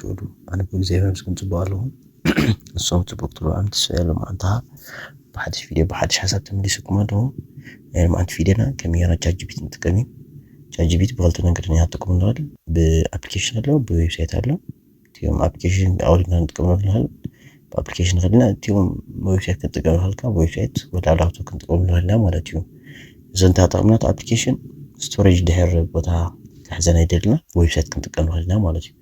ትውዕሉ ኣነ ብእግዚኣብሔር ምስኩም ፅቡቅ ኣለኹ ንሶም ፅቡቅ ክትብሉ ኣነ ተስፋ የሎም ኣንታ ብሓድሽ ቪድዮ ብሓድሽ ሓሳብ ተመሊሱኩም ኣለኹ ናይ ልምዓት ቪድዮና ከም ጌና ቻትጂፒቲ ንጥቀም እዩ ቻትጂፒቲ ብክልተ መንገዲ ንሃተኩም ንኽእል ብኣፕሊኬሽን ኣሎ ብዌብሳይት ኣሎ እቲኦም ኣፕሊኬሽን ኣውሪድና ንጥቀመሉ ንኽእል ብኣፕሊኬሽን ኸድና እቲኦም ዌብሳይት ክንጥቀም ንኽእል ካብ ዌብሳይት ወላ ላፕቶፕ ክንጥቀም ንኽእልና ማለት እዩ እዚ እንተጠቕምናት ኣፕሊኬሽን ስቶሬጅ ድሕር ቦታ ክሕዘና ይደልና ብዌብሳይት ክንጥቀም ንኽእል ኢና ማለት እዩ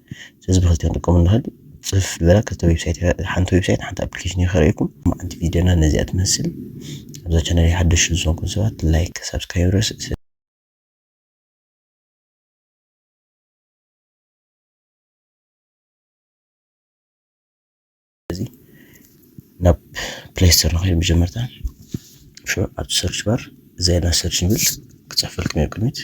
ስለዚ ብክልተ ክንጥቀም ንኽእል ፅፍ ዝበላ ክልተ ዌብሳይት ሓንቲ ዌብሳይት ሓንቲ ኣፕሊኬሽን ይኸርእኩም ሓንቲ ቪድዮና ነዚኣ ትመስል ኣብዛ ቻናል ሓደሽ ዝኾንኩም ሰባት ላይክ ሳብስክራይብ ረስ ስለዚ ናብ ፕሌይ ስቶር ንኸይድ መጀመርታ ኣብ ሰርች ባር ዜና ሰርች ንብል ክፅሕፈልኩም እየ ቅድሚት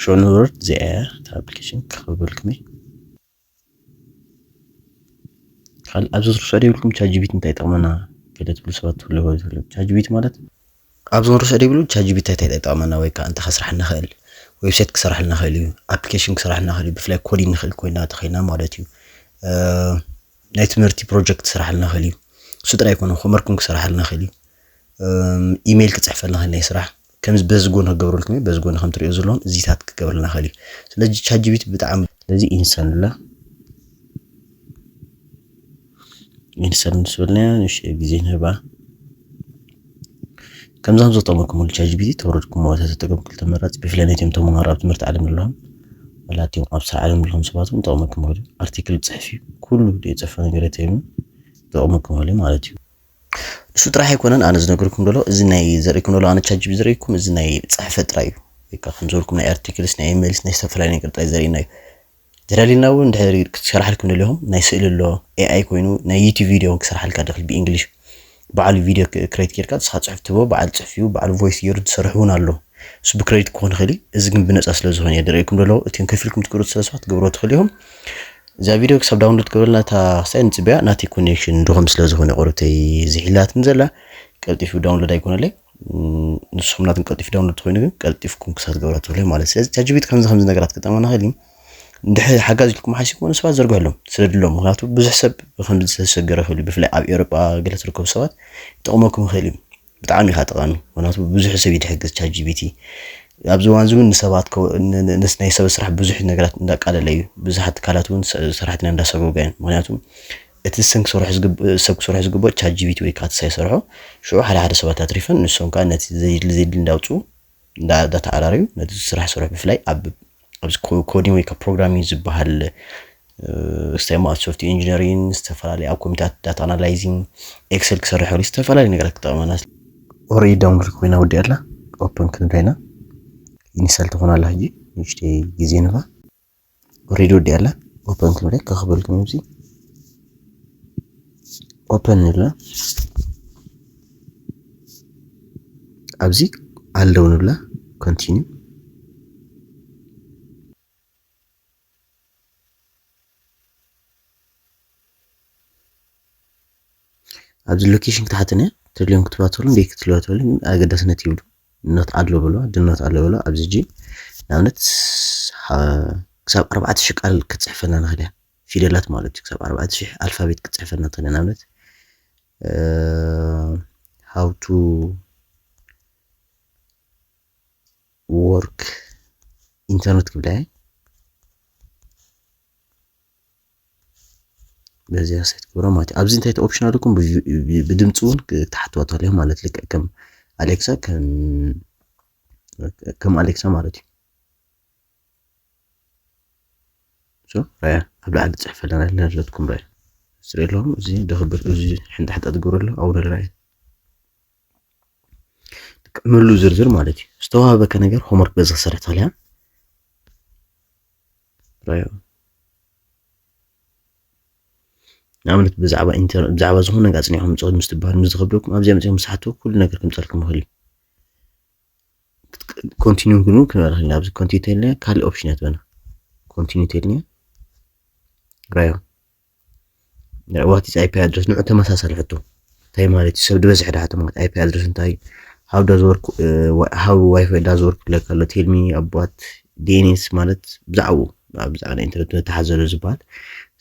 ሾ ንወርድ እዚኣ እያ እታ ኣፕሊኬሽን ክኽብበልኩም እየ ካልእ ኣብዚ ዝርሶ ደይብልኩም ቻት ጂቢቲ እንታይ ይጠቕመና ገለ ትብሉ ሰባት ትብሉ ይኸው ትብሉ ቻት ጂቢቲ ማለት ኣብዚ ክንርሶ ዘይብሉ ቻጂቢታይ ታይ ጠጠቅመና ወይ ከዓ እንታይ ከስራሕልና ይክእል ዌብሳይት ክሰራሕልና ይክእል እዩ ኣፕሊኬሽን ክሰራሕልና ይክእል እዩ ብፍላይ ኮዲን ንክእል ኮይና ተኮይና ማለት እዩ ናይ ትምህርቲ ፕሮጀክት ክሰራሕልና ይክእል እዩ እሱ ጥራይ ኣይኮነ ኮመርኩም ክሰራሕልና ይክእል እዩ ኢሜይል ክፅሕፈልና ይክእል ናይ ስራሕ ከምዚ በዚ ጎኒ ክገብረልኩም እዩ በዚ ጎኒ ከም ትሪኦ ዘለኹም እዚታት ክገብረልና ይክእል እዩ ስለዚ ቻጂቢት ብጣዕሚ ስለዚ ኢንሰንላ ኢንሰር ምስ በልናያ ንእሽተይ ግዜ ንህባ ከምዛ ዘጠመኩምሉ ቻጅቢቲ ተወረድኩሞ ተተጠቀም ክልተ መራፂ ብፍላይ ነቶም ተምሃሮ ኣብ ትምህርቲ ዓለም ዘለዎም ወላቲኦም ኣብ ስራሕ ዓለም ዘለዎም ሰባት እውን ጠቕመኩም ክሉ ኣርቲክል ፅሕፍ እዩ ኩሉ ዘይፀፈ ነገር ተይኑ ጠቕመኩም ክሉ ማለት እዩ ንሱ ጥራሕ ኣይኮነን ኣነ ዝነገርኩም ደሎ እዚ ናይ ዘርእኩም ደሎ ኣነ ቻጅቢ ዘርእኩም እዚ ናይ ፅሕፈት ጥራይ እዩ ወይ ከዓ ከም ዝበልኩም ናይ ኣርቲክልስ ናይ ኢሜልስ ናይ ዝተፈላለዩ ነገር ጥራይ ዘርእና እዩ ተዳሊልና ውን እንድሕር ክትሰርሓልኩም ደሊኹም ናይ ስእሊ ኣሎ AI ኮይኑ ናይ ዩቱብ ቪድዮ ውን ክሰርሓልካ ድኽል ብኢንግሊሽ በዓሉ ቪድዮ ክሬት ጌርካ ንስኻ ጽሑፍ ትህቦ በዓል ጽሑፍ እዩ በዓሉ ቮይስ ጌሩ ዝሰርሕ ውን ኣሎ እሱ ብክሬዲት ክኾን ይኽእል እዩ እዚ ግን ብነጻ ስለ ዝኾነ እየ ድርእየኩም ደለኹ እቲም ከፊልኩም ትገብሩ ስለ ስባት ክትገብርዎ ትኽእሉ ኢኹም እዛ ቪድዮ ክሳብ ዳውንሎድ ክብለልና እታ ክሳይ ንጽበያ ናተይ ኮኔክሽን ድኹም ስለ ዝኾነ ቁርብተይ ዝሒላትኒ ዘላ ቀልጢፉ ዳውንሎድ ኣይኮነለይ ንስኹም ናትን ቀልጢፍ ዳውንሎድ ኮይኑ ግን ቀልጢፍኩም ክሳብ ትገብራ ትብሉ ማለት ስለዚ ቻጅቢት ከምዚ ከምዚ ነገራት ክጠመና ክእል ድሕሪ ሓጋዝ ኢልኩም ሓሲብኩ ንሰባት ዘርግሕሎም ስደድሎም ምክንያቱ ብዙሕ ሰብ ከምዚ ዝተሸገረ ክእል እዩ ብፍላይ ኣብ ኤሮጳ ገለ ትርከቡ ሰባት ይጠቕመኩም ይኽእል እዩ ብጣዕሚ ኢኻ ጠቓሚ ምክንያቱ ብዙሕ ሰብ እዩ ድሕግዝ ቻጅቢቲ ኣብዚ እዋን እዚ እውን ንሰባት ናይ ሰብ ስራሕ ብዙሕ ነገራት እንዳቃለለ እዩ ብዙሓት ትካላት እውን ሰራሕተኛ እንዳሰጎገ እዩ ምክንያቱ እቲ ንሰን ክሰርሖ ዝግብ ሰብ ክሰርሖ ዝግብኦ ቻት ጂቢቲ ወይ ክኣ እቲ ሳይ ሰርሖ ሽዑ ሓደ ሓደ ሰባት ኣትሪፈን ንሶም ክኣ ነቲ ዘየድሊ ዘየድሊ እንዳውጽኡ እንዳ ዳተዓራረዩ ነቲ ዝስራሕ ስርሑ ብፍላይ ኣብ ኣብዚ ኮ ኮዲን ወይ ክኣ ፕሮግራሚን ዝብሃል ስታይ እሞ ኣብ ሶፍቲ ኢንጂነሪን ዝተፈላለዩ ኣብ ኮምፒታት ዳታ ኣናላይዚን ኤክሰል ክሰርሕ ከሎ ዝተፈላለዩ ነገራት ክጠቕመና ኦረዲ ዳውንሎድ ኮይና ወዲኣ ኣላ ኦፕን ክንብላ ኢና ኢንስታል ትኾን ኣላ ሕጂ ንእሽተይ ግዜ ንባ ኦሬዲ ወዲኣ ኣላ ኦፐን ክንብል ከክበልኩም እዚ ኦፐን ንብላ ኣብዚ ኣለው ንብላ ኮንቲኒው ኣብዚ ሎኬሽን ክትሓተነ ትድልዮም ክትባተሉ እንዴ ክትለዋተሉ ኣገዳስነት ይብሉ ኖት ኣድሎ ብሎ ድኖት ኣለ ብሎ ኣብዚ ጂ ንኣብነት ክሳብ ኣርባዕተ ሽሕ ቃል ክትፅሕፈልና ንኽእል እያ ፊደላት ማለት እዩ ክሳብ ኣርባዕተ ሽሕ ኣልፋቤት ክትፅሕፈልና ትኽእል እያ ንኣብነት ሃው ቱ ወርክ ኢንተርኔት ክብላ እየ በዚኣ ሴት ክብሮ ማለት ኣብዚ እንታይ ኦፕሽን ኣለኩም ብድምፂ እውን ክትሓትዋ ተልዮ ማለት ልክዕ ከም ኣሌክሳ ከም ኣሌክሳ ማለት እዩ ራያ ኣብ ላዕሊ ፅሕፍ ኣለና ለለትኩም ራያ ስሪ ኣለኹም እዚ ደክብር እዚ ሕንጣ ሕንጣ ትገብሩ ኣሎ ኣውረ ራያ ምሉ ዝርዝር ማለት እዩ ዝተዋህበከ ነገር ሆምወርክ በዚ ክሰርሕ ተልያ ራዮ ንኣብነት ብዛዕባ ኢንተርነት ብዛዕባ ዝኾነ ነገር ኣጽኒዕኩም ምጽ ምስ ትበሃሉ ምስ ዝኸብደኩም ኣብዚኣ መጺኹም ምስ ሓትዎ ኩሉ ነገር ክምጸልኩም ይኽእል እዩ ኮንቲኒዩ ግን ክንበላ ክልና ኣብዚ ኮንቲኒ ተልና ካልእ ኦፕሽን እያ ትበና ኮንቲኒ ተልና ራዮ ናይ ዋት ኢዝ ኣይፒ ኣድረስ ንዑ ተመሳሳሊ ሕቶ እንታይ ማለት እዩ ሰብ ዝበዝሐ ድሓ ማለት ኣይፒ ኣድረስ እንታይ እዩ ሃው ዳዝ ወርክ ሃው ዋይፋይ ዳዝ ወርክ ክለካ ኣሎ ቴልሚ ኣባት ዲኤንኤስ ማለት ብዛዕኡ ብዛዕባ ናይ ኢንተርነት ተሓዘሎ ዝበሃል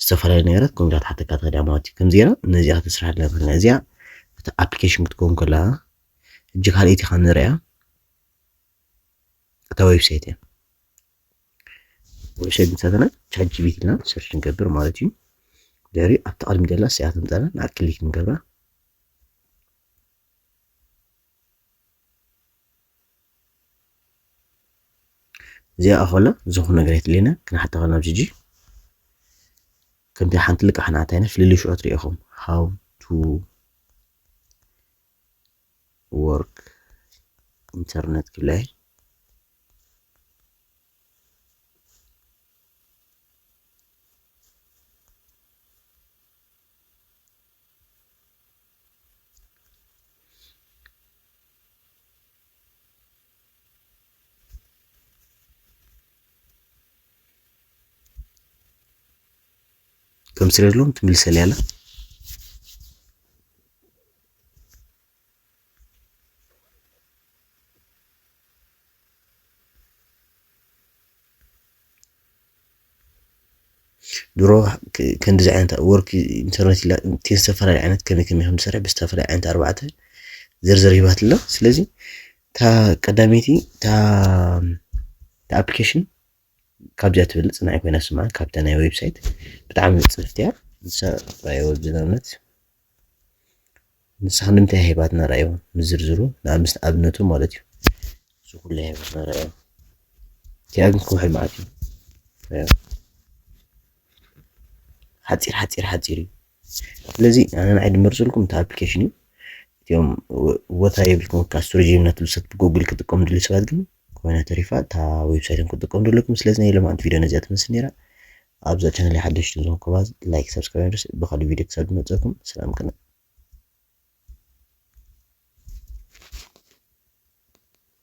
ዝተፈላለዩ ነገራት ከምዚ ክትሓተካ ትኽእል እያ ማለት እዩ ከምዚ ገይራ ነዚኣ ክትስራሕ ኣለና ትኽእል እዚኣ እቲ ኣፕሊኬሽን ክትከውን ከለካ ሕጂ ካልኣይቲ ካብ ንሪኣ እታ ዌብሳይት እያ ወሸቢታትና ቻት ጂቢቲ ኢልና ሰርች ንገብር ማለት እዩ ድሕሪ ኣብቲ ቅድሚ ደላ ስያት ንጠላ ንኣ ክሊክ ንገብራ እዚኣ ኣኸላ ዝኾነ ነገር የትልየና ክንሓታ ከልና ኣብዚ ሕጂ ከምቲ ሓንቲ ልቃሕ ንኣታይና ፍልልይ ሽዖ ትሪኢኹም ሃው ቱ ወርክ ኢንተርነት ክላይ ከምስለሎም ትምልሰል ያለ ድሮ ከምዚ ዓይነት ወርክ ኢንተርኔት ኢላ ዝተፈላለዩ ዓይነት ከመይ ከመይ ከም ዝሰርሕ ብዝተፈላለየ ዓይነት ኣርባዕተ ዝርዝር ሂባት ኣሎ ስለዚ እታ ቀዳመይቲ እታ ኣፕሊኬሽን ካብዚኣ ትብል ጽናዒ ኮይና ስማ ካብታ ናይ ዌብሳይት ብጣዕሚ ንጽፍቲ እያ ንሳ ራእዮ ብዝነብነት ንሳ ንምንታይ ሂባትና ራእዮ ምዝርዝሩ ንኣብነት ኣብነቱ ማለት እዩ እዚ ኩሉ ሂባትና ራእዮ እቲኣ ግን ክውሕድ መዓት እዩ ራእዮ ሓፂር ሓፂር ሓፂር እዩ ስለዚ ኣነ ንዓይ ድመርፅልኩም እቲ ኣፕሊኬሽን እዩ እቲኦም ቦታ የብልኩም ካ ስቶሬጅ እናትብሰት ብጎግል ክጥቀሙ ድልዩ ሰባት ግን ኮይና ተሪፋ እታ ዌብሳይት ክትጥቀሙ ዘለኩም ስለዚ ናይ ሎማዓንቲ ቪድዮ ነዚኣ ትመስል ነይራ ኣብዛ ቻነል ሓደሽቲ ዝኾንኩባ ላይክ ሰብስክራይብ ድረስ ብካልእ ቪድዮ ክሳብ ዝመፀኩም ሰላም ቅነ